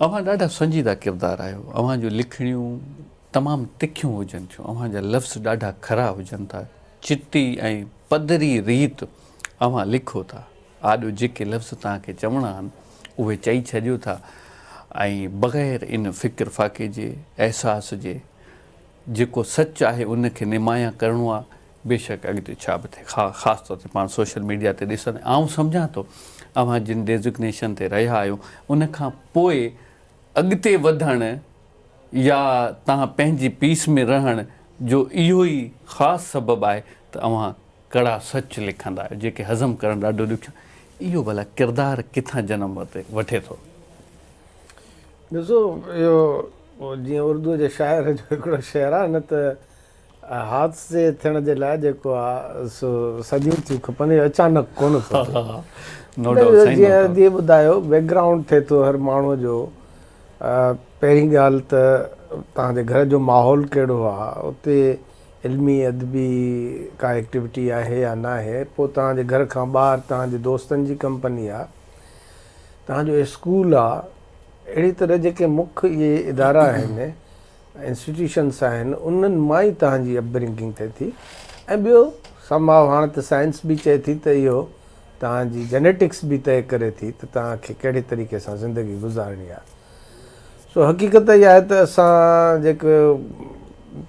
اوهان ڏاڍا سنجيده ڪردار آهيو. اوهان جون لکڻيون تمام تکيون هجن ٿيون. اوهان جا لفظ ڏاڍا کرا هجن ٿا. چٽي ۽ پڌري ريت اوهان لکو ٿا. آڏو جيڪي لفظ توهان کي چوڻا آهن، اهي چئي ڇڏيو ٿا ۽ بغير ان فڪر فاقي جي، احساس جي، جيڪو سچ آهي ان کي نمايان ڪرڻو آهي، بيشڪ اڳتي ڇا به ٿئي خا خاص طور تي پاڻ سوشل ميڊيا تي ڏسندي آئون سمجهان ٿو اوهان جن ڊيزگنيشن تي رهيا آهيو ان کان پوء اڳتي وڌڻ يا تهان پنهنجي پيس ۾ رهڻ جو اهو ئي خاص سبب آهي ته اوهان ڪڙا سچ لکندا آهيو جيڪي هضم ڪرڻ ڏاڍو ڏکيو اهو ڀلا ڪردار ڪٿان جنم وٺي ٿو. ڏسو اهو جيئن اردوء جي شاعر جو هڪڙو شعر آهي نه ته. حادثي ٿيڻ جي لاء جيڪو آ سو صديون ٿيون کپن اهو اچانڪ ڪونه ٿو ٿئي. نو ڊائوٽ سائين نو ڊائوٽ. جيئن ٻڌايو بيڪ گرائونڊ ٿئي ٿو هر ماڻهو جو پهرين ڳالهه ته توهان جي گهر جو ماحول ڪهڙو آ اتي علمي ادبي ڪا ايڪٽيوٽي آهي يا ناهي پوء توهان جي گهر کان ٻاهر توهان جي دوستن جي ڪمپني آ توهان جو اسڪول آ اهڙي طرح جيڪي مک اهي ادارا آهن انسٽيٽيوشنس آهن انهن مان ئي توهان جي اپبرنگنگ ٿئي ٿي ۽ ٻيو سم هاء هاڻ ته سائنس به چئي ٿي ته اهو توهان جي جينيٽڪس به طئي ڪري ٿي ته توهان کي ڪهڙي طريقي سان زندگي گذارڻي آهي سو حقيقت اها آهي ته اسان جيڪو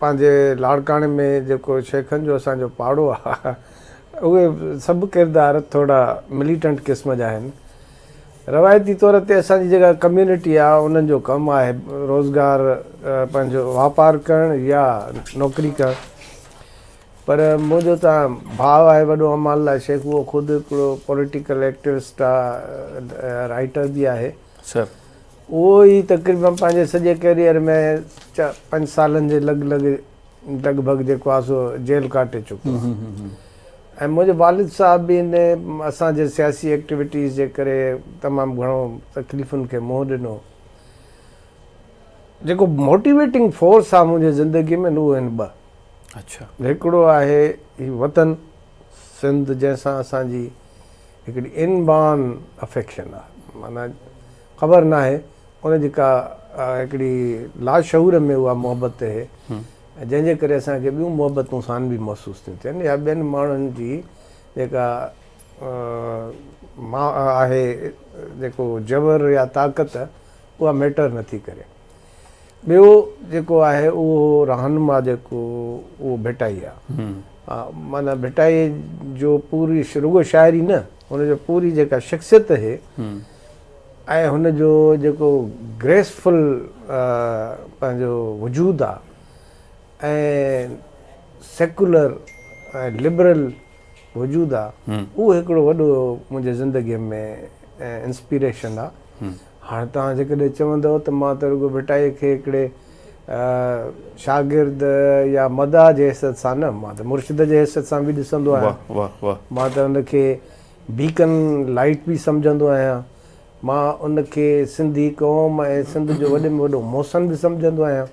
پنهنجي لاڙڪاڻي ۾ جيڪو شيخن جو اسان جو پاڙو آهي اهي سڀ ڪردار ٿورا مليٽنٽ قسم جا آهن روايتي طور تي اسان جي جيڪا ڪميونٽي آهي انهن جو ڪم آهي روزگار پنهنجو واپار ڪرڻ يا نوڪري ڪرڻ پر منهنجو ته ڀاء آهي وڏو امان الله شيخ اهو خود هڪڙو پوليٽيڪل ايڪٽوسٽ آهي رائيٽر به آهي سر اهو ئي تقريبن پنهنجي سڄي ڪيريئر ۾ پنج سالن جي لڳ لڳ لڳ ڀڳ جيڪو آهي سو جيل ڪاٽي چڪو آهي ۽ منهنجو والد صاحب به ان اسان جي سياسي ايڪٽيوٽيز جي ڪري تمام گهڻو تڪليفن کي منهن ڏنو. جيڪو موٽيويٽنگ فورس آهي منهنجي زندگي ۾ اهو آهن ٻه. اڇا. هڪڙو آهي هي وطن سنڌ جنهن سان اسان جي هڪڙي ان بان افيڪشن آهي معنيٰ خبر ناهي ان جي ڪا هڪڙي لاشعور ۾ اها محبت اهي جنهن جي ڪري اسان کي ٻيون محبتون ثانوي محسوس ٿيون ٿين يا ٻين ماڻهن جي جيڪا آهي جيڪو جبر يا طاقت اها ميٽر نٿي ڪري ٻيو جيڪو آهي اهو رهنما جيڪو اهو ڀٽائي آهي معنی ڀٽائي جو پوري رڳو شاعري نه ان جو پوري جيڪا شخصيت اهي ۽ هن جو جيڪو گريسفل پنهنجو وجود آ ۽ سيڪولر ۽ لبرل وجود آ اهو هڪڙو وڏو منهنجي زندگي ۾ انسپيريشن آ هاڻ توهان جيڪڏهن چوندؤ ته مان ته رڳو ڀٽائي کي هڪڙي شاگرد يا مداح جي حيثيت سان نه مان ته مرشد جي حيثيت سان به ڏسندو آهيان مان ته ان کي بيڪن لائيٽ به سمجهندو آهيان. مان ان کي سنڌي قوم ۽ سنڌ جو وڏي ۾ وڏو محسن به سمجهندو آهيان.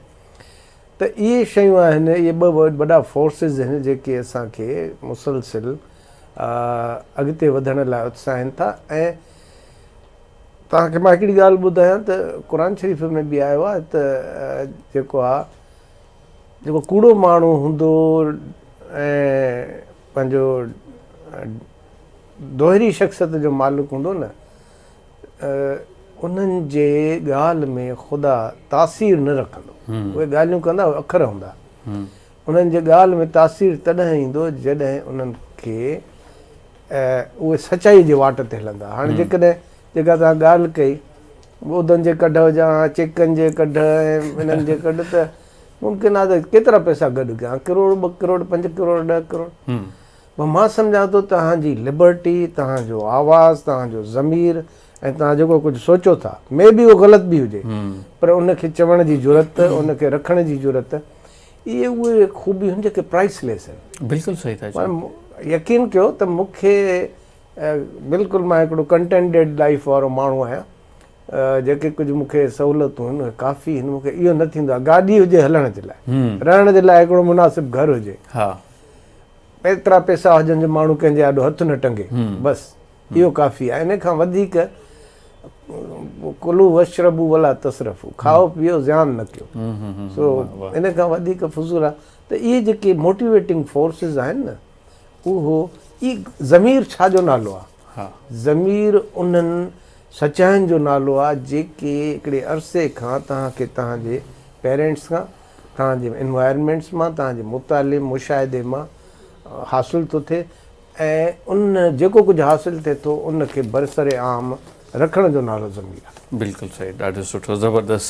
ته اهي شيون آهن، اهي ٻه وڏا فورسز آهن جيڪي اسان کي مسلسل اڳتي وڌڻ لاء اتساهين ٿا ۽ توهان کي مان هڪڙي ڳالهه ٻڌايان ته قرآن شريف ۾ به آيو آهي ته جيڪو آهي جيڪو ڪوڙو ماڻهو هوندو ۽ پنهنجو دوهري شخصيت جو مالڪ هوندو نه انهن جي ڳالهه ۾ خدا تاثير نه رکندو. اهي ڳالهيون ڪندا اهي اکر هوندا. انهن جي ڳالهه ۾ تاثير تڏهن ايندو جڏهن انهن کي اهي سچائي جي واٽ تي هلندا. هاڻي جيڪڏهن جيڪا توهان ڳالهه ڪئي. ٻوڌن جي ڪڍ هجان ها، چيڪن جي ڪڍ ۽ انهن جي ڪڍ ته ممڪن آهي ته ڪيترا پئسا گڏ ڪيا ها، ڪروڙ، ٻه ڪروڙ، پنج ڪروڙ، ڏهه ڪروڙ. پر مان سمجهان ٿو توهان جي لبرٽي، توهان جو آواز، توهان جو ضمير ۽ توهان جيڪو ڪجهه سوچو ٿا، مي بي اهو غلط به هجي، پر ان کي چوڻ جي جرئت، ان کي رکڻ جي جرئت، اهي اهي خوبيون آهن جيڪي پرائس ليس آهن. بلڪل صحيح ٿا چئو. يقين ڪيو ته مون کي بلڪل مان هڪڙو ڪنٽينٽيڊ لائيف وارو ماڻهو آهيان جيڪي ڪجهه مون کي سهولتون هن اهي ڪافي هن مون کي اهو نه ٿيندو آهي گاڏي هجي هلڻ جي لاء رهڻ جي لاء هڪڙو مناسب گهر هجي ايترا پيسا هجن جو ماڻهو ڪنهن جي آڏو هٿ نه ٽنگي بس اهو ڪافي آهي ان کان وڌيڪ ڪلو وشربو ولا تصرفو کائو پيئو زيان نه ڪيو سو ان کان وڌيڪ فضول آهي ته اهي جيڪي موٽيويٽنگ فورسز آهن نه اهو ئي ضمير ڇا جو نالو آ؟ ضمير انهن سچاين جو نالو آ جيڪي هڪڙي عرصي کان توهان کي توهان جي پيرينٽس کان، توهان جي انوائرمينٽس مان، توهان جي مطالعي مشاهدي مان حاصل ٿو ٿئي ۽ ان جيڪو ڪجهه حاصل ٿئي ٿو ان کي برسر عام رکڻ جو نالو ضمير آ. بلڪل صحيح ڏاڍو سٺو زبردست